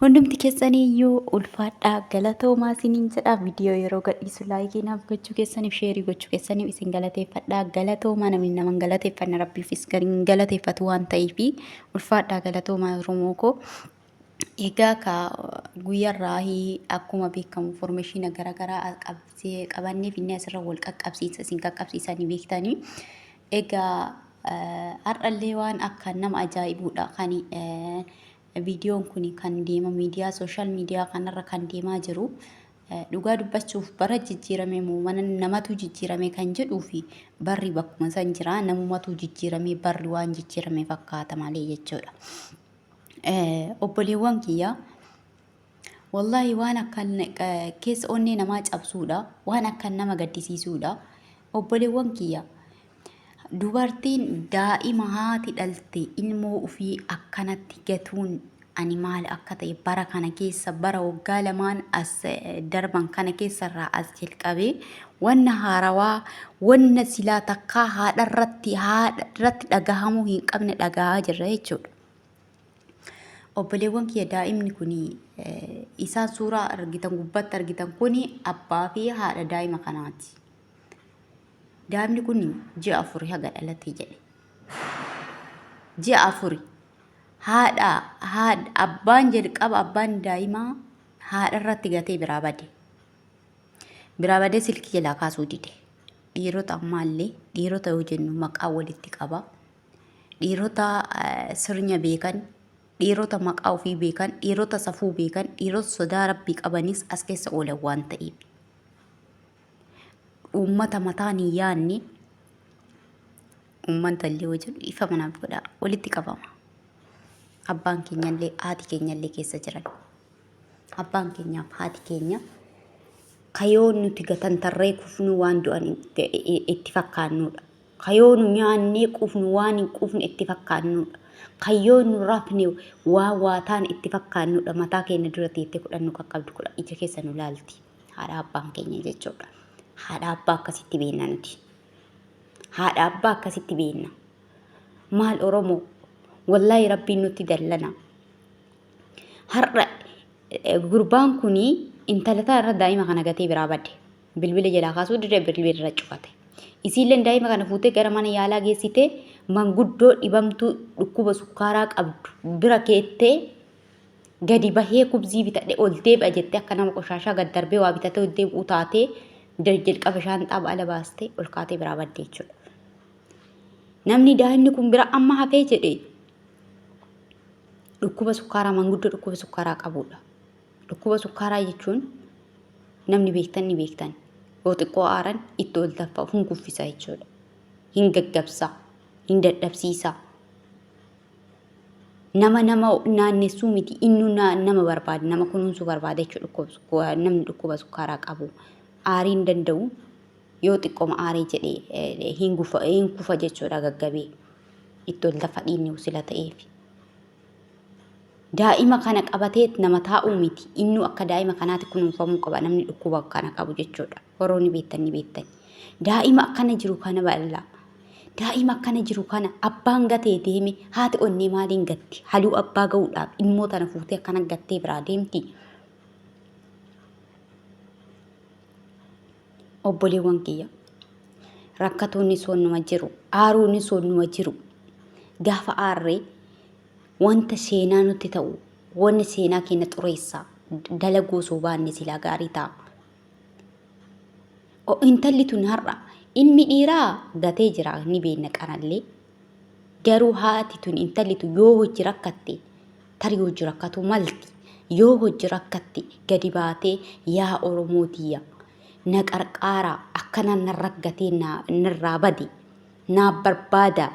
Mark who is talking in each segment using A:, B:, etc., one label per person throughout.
A: Hundumti keessanii iyyuu ulfaadhaa galatoomaa isiniin jedha viidiyoo yeroo gadhiisu laayikii naaf gochuu keessaniif sheerii gochuu keessaniif isin galateeffadhaa galatoomaa namni nama hin galateeffanne rabbiifis kan hin galateeffatu waan ta'eef ulfaadhaa galatoomaa Oromoo koo. Egaa ka guyyarraahi akkuma beekamu formeeshiina garaagaraa qabsee qabannee finne asirra wal qaqqabsiisa isin qaqqabsiisa ni beektanii. Egaa eh, har'allee waan akkaan nama ajaa'ibuudha kan eh, Viidiyoon kun kan deema miidiyaa sooshaal miidiyaa kanarra kan deemaa jiru dhugaa dubbachuuf bara jijjiiramee moo mana namatu jijjiiramee kan jedhuu fi barri bakkuma san jira namumatu jijjiiramee barri waan jijjiirame fakkaata malee jechuudha. Obboleewwan kiyya Wallaahi waan akkaan keessa onnee namaa cabsuudha. Waan akkaan nama gaddisiisuudha. Obboleewwan kiyya dubartiin daa'ima haati dhalte ilmoo ofii akkanatti gatuun ani maal akka ta'e bara kana keessa bara waggaa lamaan as darban kana keessarraa as jalqabee wanna haarawaa wanna silaa takkaa haadharratti haadharratti dhagahamuu hin qabne dhagahaa jirra jechuudha. Obboleewwan kiyya daa'imni kun isaan suuraa argitan gubbatti argitan kun abbaa fi haadha daa'ima kanaati. Daa'imni kun ji'a afuri haga dhalate jedhe. Ji'a afuri haadha haadha abbaan jalqaba abbaan daa'imaa haadha irratti gatee biraa bade. Biraa badee silkii jalaa kaasuu dide. Dhiirota ammaallee dhiirota yoo jennu maqaa walitti qaba. dhiirota sirnya beekan, dhiirota maqaa ofii beekan, dhiirota safuu beekan, dhiirota sodaa rabbii qabanis as keessa oolan waan ta'eef. Uummata mataan hin yaadne uummata illee wajjin ifa manaaf godha walitti qabama. Abbaan keenyallee haati keenyallee keessa jiran. Abbaan keenyaaf haati keenya kayoon nuti gatantarree kufnu waan du'an itti fakkaannudha. Ka yoo nu nyaannee quufnu waan hin quufne itti fakkaannuudha. Ka yoo nu rafne waan waa taane itti fakkaannuudha. Mataa keenya dura teettee kudhan nu qaqqabdi, kudhan ija keessa nu laalti. Haadha abbaan keenya jechuudha. Haadha abbaa akkasitti beekna nuti. Haadha abbaa akkasitti beekna. Maal Oromoo? Wallaahi rabbiin nutti dallana. Har'a gurbaan kun intala irra daa'ima kana gatee biraa bade. Bilbila jalaa kaasuu didee bilbila irra cufate. Isiilleen daa'ima kana fuutee gara mana yaalaa geessitee manguddoo dhibamtuu dhukkuba sukkaaraa qabdu bira keettee gadi bahee kubzii bitadhe ol deebi'a jettee akka nama qoshaashaa gad darbee waa bitatee ol deebi'u taatee jalqaba shaanxaa ba'ala baastee ol kaatee biraa badde jechuudha. Namni daa'imni kun bira amma hafee jedhe dhukkuba sukkaaraa manguddoo dhukkuba sukkaaraa qabudha. Dhukkuba sukkaaraa jechuun namni beektan ni beektan. Yoo xiqqoo aaran itti ol taffa'u hin kuffisa jechuudha. Hin gaggabsa, hin dadhabsiisa. Nama nama naannessuu miti innu nama barbaada, nama kunuunsuu barbaada jechuudha namni dhukkuba sukkaaraa qabu. Aarii hin danda'u yoo xiqqoma aarii jedhee eh, hin kufa jechuudha gaggabee. Itti ol taffa dhiinni sila ta'eef. daa'ima kana qabatee nama taa'uu miti. Innuu akka daa'ima kanaatti kunuunfamuu qaba namni dhukkuba kana qabu jechuudha. Warroonni beektan ni beektan. Daa'ima akkana jiru kana bal'aa. Daa'ima akkana jiru kana abbaan gatee deeme haati onnee maaliin gatti? Haluu abbaa ga'uudhaaf ilmoo tana fuutee akkana gattee biraa deemti. Obboleewwan kiyya rakkatoonni soonnuma jiru. Aaruun soonnuma jiru. Gaafa aarree wanta seenaa nutti ta'u wanni seenaa keenya xureessa dalaguu osoo baanne silaa gaarii ta'a. Intalli tun har'a ilmi dhiiraa gatee jira ni beekna qarallee. Garuu haati tun intalli tun yoo hojji rakkatte tarii hojji rakkatu malti. Yoo hojji rakkatte gadi baatee yaa Oromoo tiyya na qarqaaraa akkana na raggatee na- narraa bade naaf barbaadaa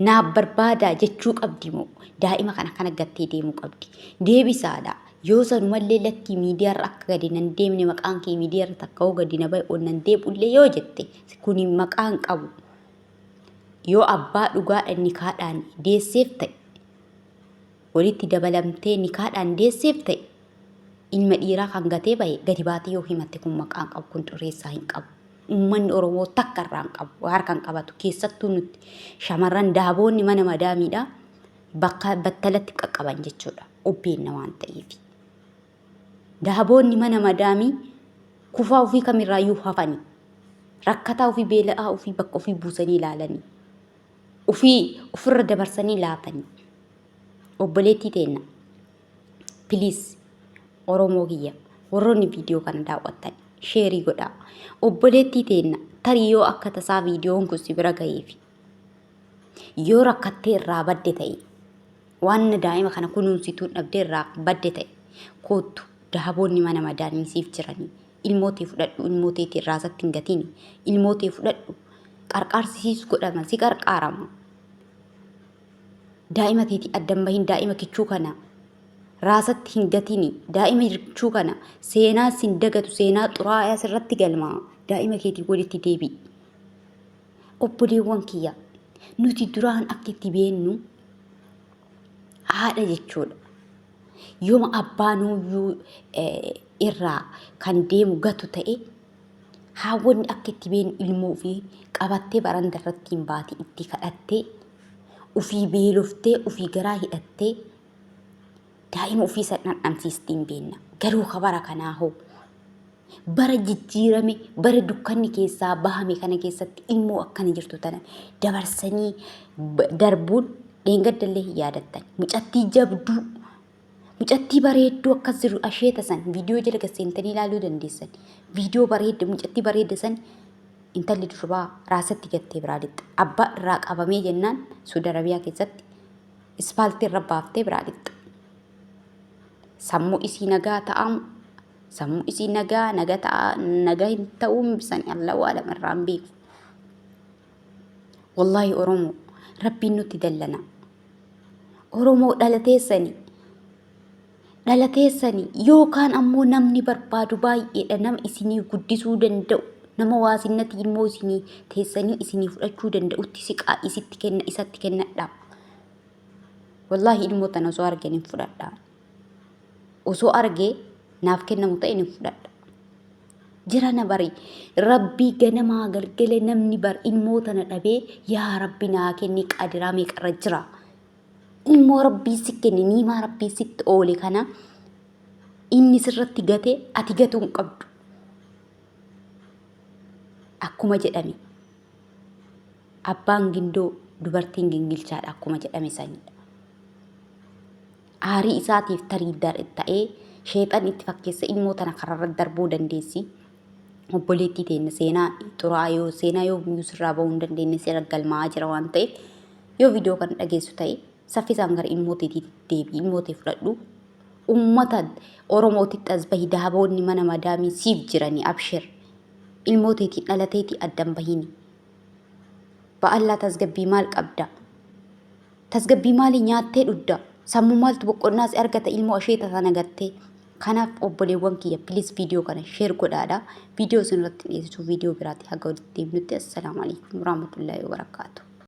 A: Naaf barbaadaa jechuu qabdi moo daa'ima kana kana gattee deemuu qabdi. Deebisaadha. Yoo sanumallee lakkii miidiyaarra akka gadi nan deemne maqaan kee miidiyaarra takka hoo gadi na bahe ol nan deebi'ullee yoo jette kuni maqaan qabu. Yoo abbaa dhugaadha nikaadhaan deesseef ta'e walitti dabalamtee nikaadhaan deesseef ta'e ilma dhiiraa kan gatee bahe gadi baatee yoo himatte kun maqaa hin qabu, kun xureessaa hin qabu. Uummanni Oromoo takka irraa hin qabu, harka hin qabatu. Keessattuu nuti shamarran daaboonni mana madaamiidhaa bakka battalatti qaqqaban jechuudha. Obbeenna waan ta'eef. Daaboonni mana madaamii kufaa ofii kamirraayyuu hafanii rakkataa ofii beela'aa ofii bakka ofii buusanii ilaalanii. ufii ufirra dabarsanii laatanii obboleettii teenna piliis oromoo kiyya warroonni viidiyoo kana daawwattan sheerii godhaa obboleettii teenna tarii yoo akka tasaa viidiyoon kun si bira gaheefi yoo rakkattee irraa badde ta'e waan daa'ima kana kunuunsituun dhabdee irraa badde ta'e koottu daaboonni mana madaamii siif jiranii Ilmoo tee fudhadhu ilmoo teeti irraa isatti hin gatini. Ilmoo tee fudhadhu qarqaarsi siis godhama si qarqaarama. Daa'ima teeti adda hin bahin daa'ima kichuu kana raasatti hin gatini. Daa'ima kichuu kana seenaa sin dagatu seenaa xuraa'aa sirratti galmaa daa'ima keetii walitti deebi'i. Obboleewwan kiyya nuti duraan akka itti beennu haadha jechuudha. Yooma abbaanuyyuu irraa kan deemu gatu ta'e haawwanni akka itti beenu ilmoo ofii qabattee baranda irratti hin baate itti kadhattee ofii beeloftee ofii garaa hidhattee daa'ima ofii san dhandhamsiistee hin beenna. Garuu ka bara kanaa hoo Bara jijjiirame, bara dukkanni keessaa bahame kana keessatti ilmoo akkana jirtu tana dabarsanii darbuun dheengaddallee hin yaadattan. Mucattii jabduu, mucattii bareedduu akkas jiru asheeta san viidiyoo jala gasseentanii ilaaluu dandeessan. Viidiyoo bareedda, mucattii bareedda san intalli durbaa raasatti gattee biraa lixxe. Abbaa irraa qabamee jennaan Suudi Arabiyaa keessatti ispaaltii irra baaftee biraa lixxe. Sammuu isii nagaa ta'amu Sammuu isii nagaa naga ta'a naga hin ta'uun bisani Allah waalam irraan beeku. Wallahi Oromoo rabbiin nutti dallana. Oromoo dhalateessani dhalateessani yookaan ammoo namni barbaadu baay'eedha nama isinii guddisuu danda'u nama waasinnati immoo isinii teessanii isinii fudhachuu danda'utti siqaa isitti kenna isatti kennadha. Wallahi ilmoo tana osoo argan hin fudhadha. osoo argee naaf kennamu ta'e ni fudhadha. Jirana bari rabbii ganamaa galgale namni bar ilmoo tana dhabee yaa rabbi naa kenni qadiraa meeqarra jira. Ilmoo rabbii si kenne niimaa rabbii sitti oole kana inni sirratti gate ati gatuu hin qabdu. Akkuma jedhame abbaan gindoo dubartiin gingilchaadha akkuma jedhame sanidha. Aarii isaatiif tarii ta'ee sheexanni itti fakkeessa ilmoo tana kararra darbuu dandeessi. Obboleettii teenna seenaa xuraa'aa yoo seenaa yoo guyyuu sirraa ba'uu hin dandeenye seera galmaa'aa jira waan ta'eef yoo viidiyoo kana dhageessu ta'e saffisaan gara ilmoo teetii deebi'i ilmoo tee fudhadhu. Uummata Oromootitti as bahi daaboonni mana madaamii siif jiranii abshir. Ilmoo teetii dhalateetii addan bahini. Ba'allaa tasgabbii maal qabda? Tasgabbii maalii nyaattee dhudda? Sammuu maaltu boqqonnaa si argata ilmoo asheeta sana gattee? Kanaaf obboleewwan kiyya please viidiyoo kana share godhaadha. Viidiyoo isin irratti dhiyeessitu viidiyoo biraati haga walitti deemnutti assalaamu alaikum warahmatullaahi wabarakaatu.